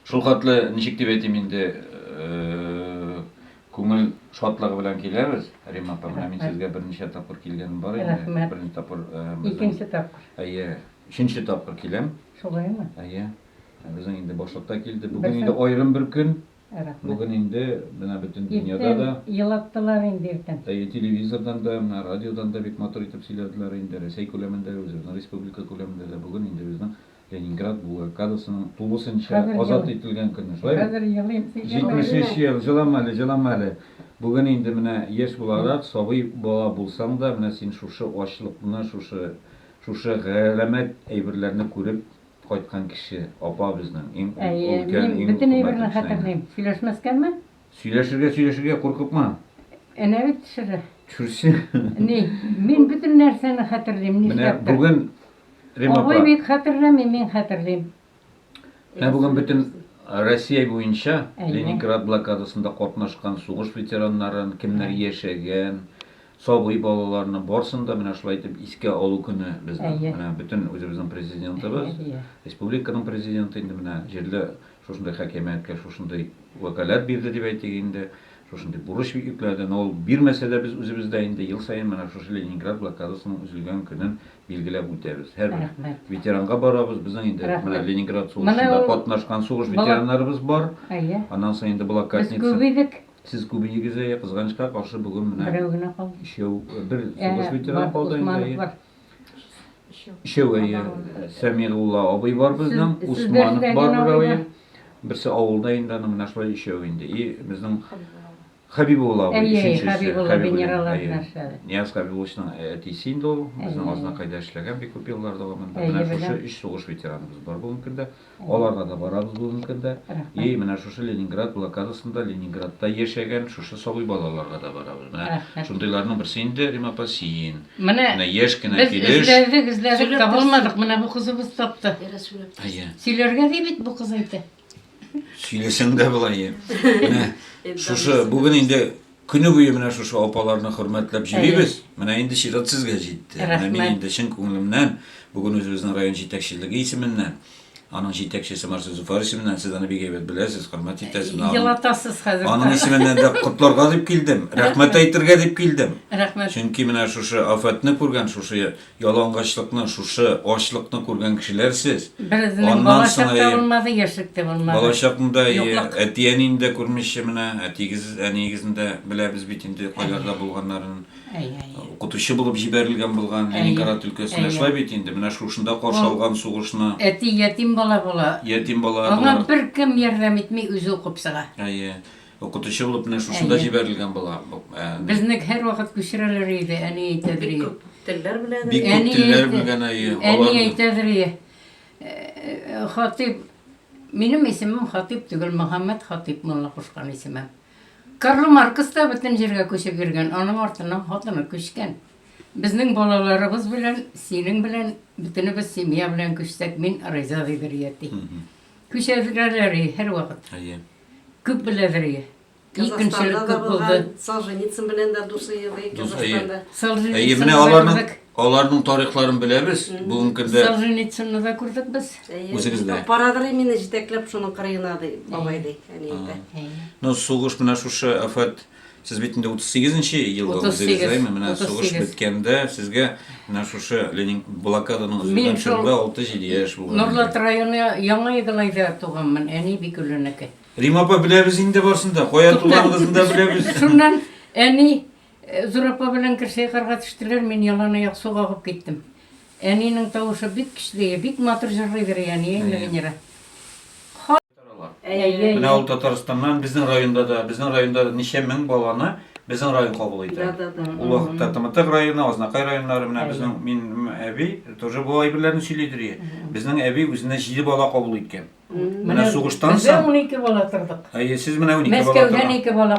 Шул хәтле, ничек дип әйтим инде, күңел шатлыгы белән киләбез. Рима апа, менә мин сезгә берничә тапкыр килгәнем бар инде. Рәхмәт. Берничә тапкыр. Икенче тапкыр. Әйе, өченче тапкыр киләм. Шулаймы? Әйе. Безнең инде башлыкта килде. Бүген инде аерым бер көн. Рәхмәт. Бүген инде менә бөтен дөньяда да. Иртән елаттылар инде иртән. Әйе, телевизордан да, менә радиодан да бик матур итеп сөйләделәр инде. Рәсәй күләмендә, үзебезнең республика күләмендә дә бүген инде безнең. Ленинград блокадасының тулысынча азат ителгән көне, шулай бит? Хәзер елыйм, син җырлама әле. 73 ел, җылама әле, җылама әле. Бүген инде менә яшь буларак, сабый бала булсаң да, менә син шушы ачлыкны, шушы, шушы галәмәт әйберләрне күреп кайткан кеше, апа безнең, иң ул, Әйе, өлкән, мин иң бөтен әйберне хөрмәтле кешең инде. хәтерлим. Сөйләшмәскәме? Сөйләшергә, сөйләшергә, куркыкма. Әнә бит төшерә. Төшерсен. Ни, мин бөтен нәрсәне хәтерлим, Менә нишләптер. бүген. Рим апа. Абый бит хәтерләми, мин хәтерлим. Менә бүген бөтен Россия буенча Ленинград блокадасында катнашкан сугыш ветераннарын, кемнәр яшәгән, сабый балаларны барсын да менә шулай итеп искә алу көне безнең. Менә бөтен үзебезнең президентыбыз, республиканың президенты инде менә җирле шушындый хакимияткә шушындый вәкаләт бирде дип әйтик инде, шушындый бурыч йөкләде, но ул бирмәсә дә без үзебез дә инде ел саен менә шушы Ленинград блокадасының үзелгән көнен билгеләп үтәбез. Һәрбер ветеранга барабыз, безнең инде менә Ленинград сугышында катнашкан сугыш ветераннарыбыз бар, аннан соң инде блокадница. Без күп идек. Сез күп идегез, әйе, кызганычка каршы бүген менә. Берәү генә калды. Өчәү, бер сугыш ветераны калды инде. Өчәү, әйе. Сәмигулла абый бар безнең, Усманов бар берәүе. Берсе авылда инде, аның менә шулай өчәү инде. И безнең Хәбибулла абый өченчесе. Әйе, Хәбибулла генераллар белән эшләде. Нияз Хәбибулловичның әтисе инде ул, безнең Азнакайда эшләгән бик күп еллар дәвамында. Менә шушы өч сугыш ветераныбыз бар бүгенге көндә. Аларга да барабыз бүген көндә. И, менә шушы Ленинград блокадасында Ленинградта яшәгән шушы сабый балаларга да барабыз. Менә шундыйларның берсе инде, Рим апа, син. Менә яшь кенә килеш. Без эзләдек, эзләдек, табылмадык, менә бу кызыбыз тапты. Әйе. Сөйләргә ди бит бу кыз әйтә. Сөйләсәң дә болай. Менә шушы бүген инде Көне буе менә шушы апаларны хөрмәтләп җибибез. Менә инде чират сезгә җитте. Менә мин инде чын күңелемнән бүген үзебезнең район җитәкчелеге исеменнән Аның җитәкчесе Марсу Зуфар исеменнән сез аны бик әйбәт беләсез, хөрмәт итәсез. Елатасыз хәзер. Аның исеменнән дә котларга дип килдем, рәхмәт әйтергә дип килдем. Рәхмәт. Чөнки менә шушы афәтне күргән, шушы Ялангачлыкны, шушы ачлыкны күргән кешеләр сез. Березенең бала чак та булмады, яшьлек тә булмады. Бала чакны да, әти-әнине дә күрмичә менә, әтиегез, әниегезне дә беләбез бит инде, кайларда булганнарын. Укытучы булып җибәрелгән булган Ленинград өлкәсенә, шулай бит инде, менә шушында каршы алган сугышны. Әти ятим бала була. Ятим бала. Аңа беркем ярдәм итми, үзе укып чыга. Әйе. Укытучы булып менә шушында Әйе. җибәрелгән була. Бу, ә, Безне һәрвакыт күчерәләр иде, әни әйтәдер Бик ие. күп телләр белә. Бик күп Әни телләр әйтә- белгән әйе. Әни Аларны әйтәдер ие. Э, Хатыйп, минем исемем Хатыйп түгел, Мөхәммәд Хатыйп мулла кушкан исемем. Карл Маркс та бөтен җиргә күчеп йөргән, аның артыннан хатыны күчкән. Безнең балаларыбыз белән, синең белән, бөтенебез семья белән күчсәк, мин риза дидер ие, ди. Күчерәләр ие һәрвакыт. Әйе. Күп беләдер ие. Казахстанда да булган, Солженицын белән дә дус ие ди Казахстанда. Әйе, менә аларның аларның тарихларын беләбез. Бүгенге көндә Солженицынны да күрдек без. Үзегез дә. Парадыр мине җитәкләп шуның кырыена ди, бабай ди, әни әйтә. Ну, сугыш менә шушы афәт Сез бит инде 38 нче елда үзегез, әйме, менә сугыш беткәндә сезгә менә шушы Ленин блокаданың үзеннән чорында 6-7 яшь булган. Норлат районы Яңа Игылайда туганмын, әни бик өлүнеке. Рим апа беләбез инде барсын да, кая туганлыгын да беләбез. Шуннан әни э, Зур апа белән керсәй карга төштеләр, мин ялан аяк су агып киттем. Әнинең тавышы бик көчле, бик матур җырлыйдыр әни, Венера. Әйе. Менә ул Татарстаннан, безнең районда да, безнең районда да ничә мең баланы безнең район кабул итә. Ул вакытта Тымытык районы, Азнакай районнары, менә безнең минем әби тоже бу әйберләрне сөйлидер ие. Безнең әби үзенә җиде бала кабул иткән. Менә сугыштан соң. Без дә унике бала тордык. Әйе, сез менә унике бала тордык. Мәскәүдән ике бала.